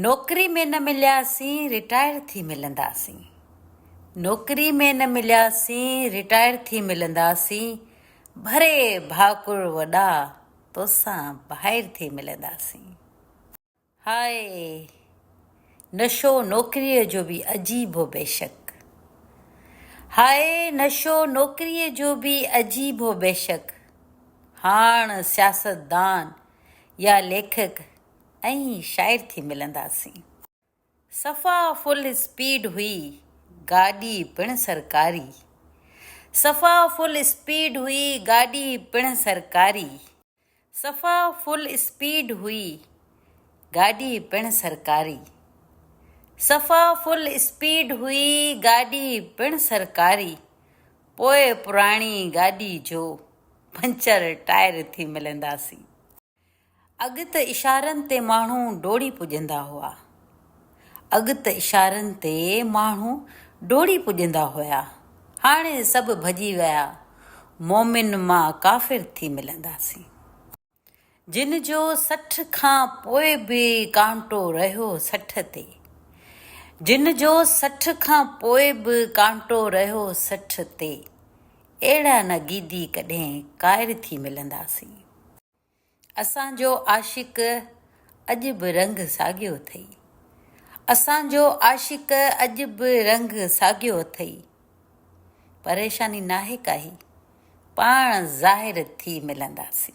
نوڪري ۾ نه ملياسين رٽائر ٿي ملنداسين نوڪري ۾ نه ملياسين رٽائر ٿي ملنداسين ڀري ڀاڪر وڏا توسان ڀائر ٿي ملنداسين هاء نشو نوڪريء جو به عجيب هو بيشڪ هاء نشو نوڪريء جو به عجيب هو بيشڪ هاڻ سياستدان يا ليکڪ ۽ شاعر ٿي ملنداسين. صفا فل اسپيڊ هئي گاڏي پڻ سرڪاري. صفا فل اسپيڊ هئي گاڏي پڻ سرڪاري. صفا فل اسپيڊ هئي گاڏي پڻ سرڪاري. صفا فل اسپيڊ هئي گاڏي پڻ سرڪاري. پوء پراڻي گاڏي جو پنچر ٽائر ٿي ملنداسين. اڳ ته اشارن تي ماڻهو ڊوڙي پڄندا هئا. اڳ ته اشارن تي ماڻهو ڊوڙي پڄندا هيا. هاڻي سڀ ڀڄي ويا. مومن مان ڪافر ٿي ملنداسين. جن جو سٺ کان پوء به ڪانٽو رهيو سٺ تي جن جو سٺ کان پوء به ڪانٽو رهيو سٺ تي اهڙا نه گيدي ڪڏهن قائر ٿي ملنداسين اسان جو عاشق اڄ به رنگ ساڳيو اٿئي اسان جو عاشق اڄ به رنگ ساڳيو اٿئي. پريشاني ناهي ڪاهي، پاڻ ظاهر ٿي ملنداسين.